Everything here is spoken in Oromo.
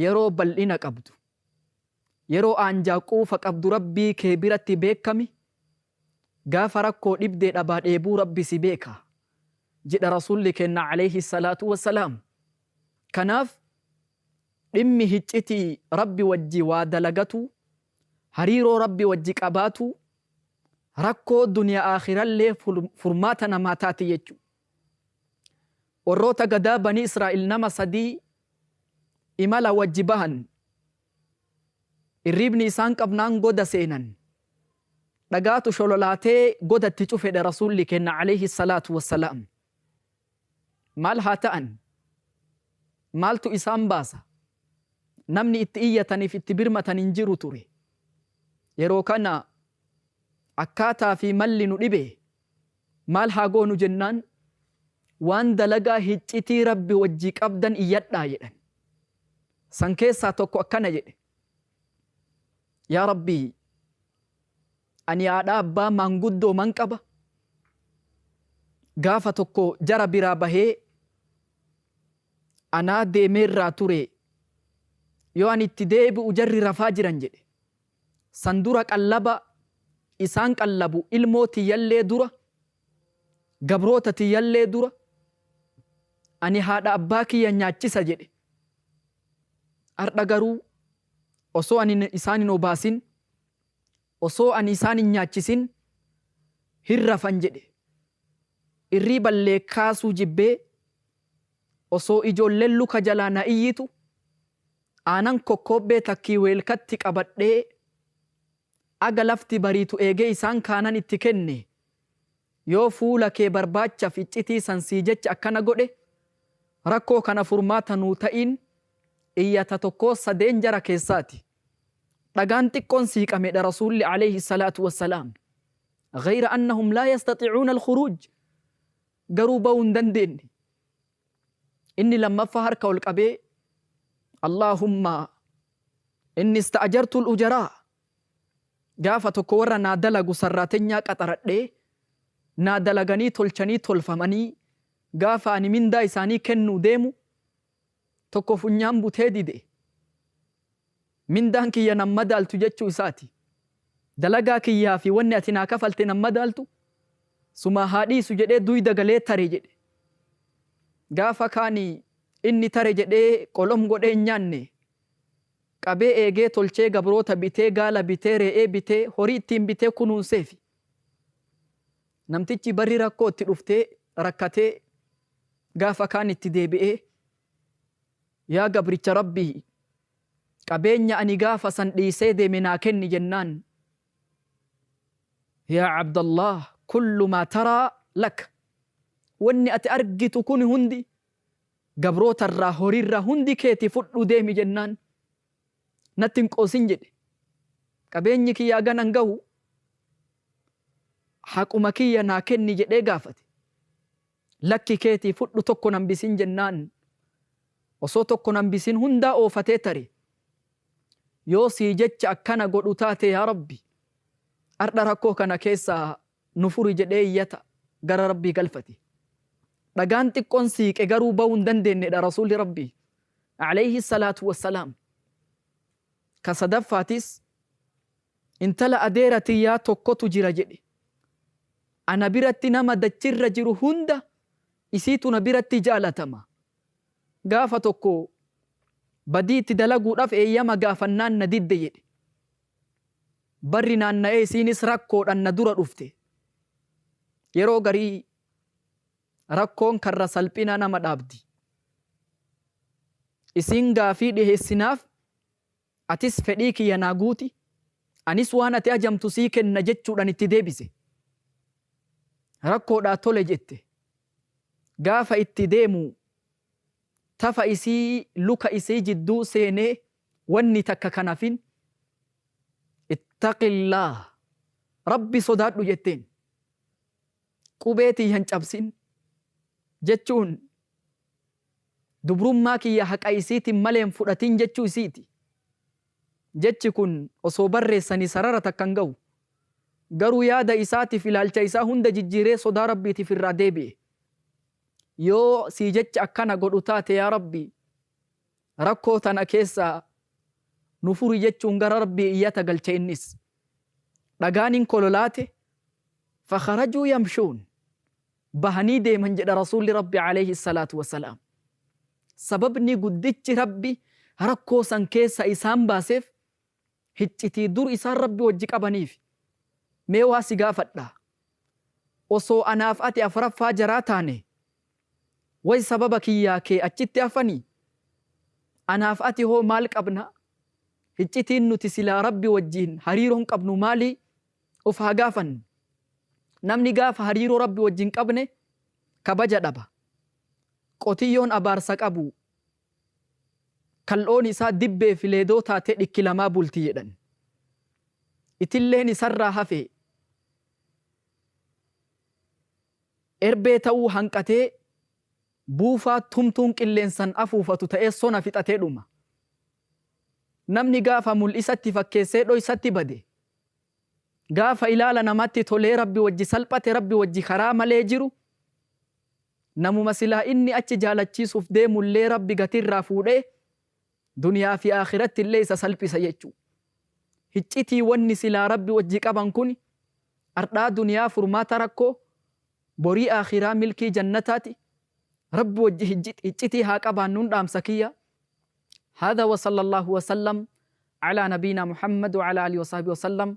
Yeroo bal'ina qabdu. Yeroo aanjaa quufa qabdu Rabbii kee biratti beekkami, gaafa rakkoo dhibdee dhabaa dheebuu Rabbi si beeka. Jedha Rasuulli keenna Aleyhi salaatu wa salaam. Kanaaf. Dhimmi hiccitii Rabbi wajji waa dalagatuu, hariiroo Rabbi wajji qabaatuu, rakkoo duniya aakhirallee furmaata namaa taati jechu. Warroota gadaa banii Israa'iil nama sadii imala wajji bahan. Irriibni isaan qabnaan goda seenan. Dhagaatu shololaatee goda itti cufedhe Rasuulli keenna aleyhi salaatu wassalaam. Maal haa ta'an? Maaltu isaan baasa? Namni itti iyyataniif itti birmatan hin jiru ture. Yeroo kana akkaataa fi malli nu dhibe. Maal haa goonu jennaan waan dalagaa hiccitii Rabbi wajji qabdan iyyadhaa jedhan. San keessaa tokko akkana jedhe. Yaa Rabbii! Ani haadha abbaa maanguddooman qaba. Gaafa tokko jara biraa bahee anaa deemeerraa ture yoo ani itti deebi'u jarri rafaa jiran jedhe. San dura qallaba isaan qallabu ilmoo tiyyallee dura, gabroota tiyyallee dura ani haadha abbaa kiyya nyaachisa jedhe. Hardha garuu osoo ani isaan hin obaasin Osoo ani isaan hin nyaachisin hin rafan jedhe. Irriiballee kaasuu jibbee, osoo ijoolleen luka jalaa na iyyitu, aanan kokkoobbee takkii weelkatti qabadhee aga lafti bariitu eegee isaan kaanan itti kenne. Yoo fuula kee barbaachaf iccitii san sii jecha akkana godhe, rakkoo kana furmaata nuu ta'iin iyyata tokkoo sadeen jara keessaati. Dhagaan xiqqoon siiqamedha Rasuulli Aleeyhi salaatu wassalaam. Ghayra annahum laa yastaxicuuna al-khuruuj. Garuu ba'uu hin dandeenne. Inni lammaffaa harka ol qabee Allaahumma inni ista'ajartu al-ujaraa. Gaafa tokko warra naa dalagu sarraatenyaa qaxaradhee naa dalaganii tolchanii tolfamanii gaafa ani mindaa isaanii kennuu deemu tokko funyaan butee dide, mindaan kiyya nan madaaltu jechuu isaati. Dalagaa kiyyaa fi wanni ati naa kafalte nan madaaltu, sumaa haa dhiisu jedhee duyda galee tare jedhe. Gaafa kaan inni tare jedhee qolom godhee hin nyaanne. Qabee eegee tolchee gabroota bitee, gaala bitee, re'ee bitee, horii ittiin bitee kunuunseefi. Namtichi barri rakkoo itti dhuftee, rakkatee, gaafa kaan itti deebi'ee, Yaa gabricha Rabbii! Qabeenya ani gaafa san dhiisee deeme naa kenni jennaan, Yaa Abdallaah! Kullu maa taraa laka. Wanni ati argitu kuni hundi, gabroota irraa, horii irraa hundi keeti fudhuu deemi jennaan, Natti hin qoosin jedhe. Qabeenyi kiyya haga nan gahu haquma kiyya naa kenni jedhee gaafate. Lakki keetii fudhu tokko nan bisin jennaan osoo tokko nan bisin hundaa oofatee tare. Yoo sii jecha akkana godhu taate yaa Rabbi ardha rakkoo kana keessaa nu furi jedhee iyyata gara Rabbii galfate. Dhagaan xiqqoon siiqe garuu bahuu hin dandeennedha Rasuulli Rabbii. Aleyhi salaatu wa salaam. Ka sadaffaatiis, Intala adeera tiyyaa tokkotu jira jedhe. Ana biratti nama dachirra jiru hunda isiitu na biratti jaalatama. Gaafa tokko badii itti dalaguudhaaf eeyyama gaafannaan na didde jedhe. Barri naanna'ee isiinis rakkoodhaan na dura dhufte. Yeroo garii. Rakkoon karra salphinaa nama dhaabdi. Isiin gaafii dhiheessi naaf, atis fedhii kiyya naa guuti, anis waan ati ajamtu sii kenna jechuudhaan itti deebise. Rakkoodhaa tole jette. Gaafa itti deemu tafa isii luka isii jidduu seenee wanni takka kan hafin. Ittaqillaah, Rabbi sodaadhu jetteen. Qubee tiyya hin cabsin jechuun dubrummaa kiyya haqa isiitiin malee hin fudhatin jechuu isiiti. Jechi kun osoo barreessanii sarara takka hin gahu. Garuu yaada isaatiif ilaalcha isaa hunda jijjiiree sodaa Rabbiitiif irraa deebi'e. Yoo sii jecha akkana godhu taate yaa Rabbi! Rakkoo tana keessaa nu furi jechuun gara Rabbii iyyata galche innis. Dhagaan hin kololaate, fakharajuu yamshuun, bahanii deeman jedha Rasuulli Rabbi aleyhi salaatu wa salaam. Sababni guddichi Rabbi rakkoo san keessaa isaan baaseef hiccitii dur isaan Rabbi wajji qabaniif mee waa si gaafadha osoo anaaf ati afraffaa jaraa taane way sababa kiyyaa kee achitti hafani anaaf ati hoo maal qabna hiccitiin nuti silaa Rabbi wajjiin hariiroon qabnu maali of haa gaafannu namni gaafa hariiroo Rabbi wajjin qabne kabaja dhaba qotiyyoon abaarsa qabu Kal'oon isaa dibbee fi leedoo taatee dhikki lamaa bulti jedhan. Itilleen isarraa hafe erbee ta'uu hanqatee buufaa tumtuun qilleensan afuufatu ta'ee sona fixatee dhuma. Namni gaafa mul'isatti fakkeessee dhoysatti bade. Gaafa ilaala namatti tolee rabbi wajji salphate rabbi wajji karaa malee jiru Namuma silaa inni achi jaalachiisuuf deemullee Rabbi gatiirraa fuudhee duniyaa fi aakhirattillee isa salphisa jechu. Hiccitii wanni silaa Rabbi wajji qaban kuni ardhaa duniyaa furmaata rakkoo, borii aakhiraa milkii jannataati. Rabbi wajji hiccitii haa qabaannun dhaamsa kiyya. Haadha wa sallallaahu wa sallam alaa nabiina Muhammad wa alaa aalihi wa sahbihi wa sallam.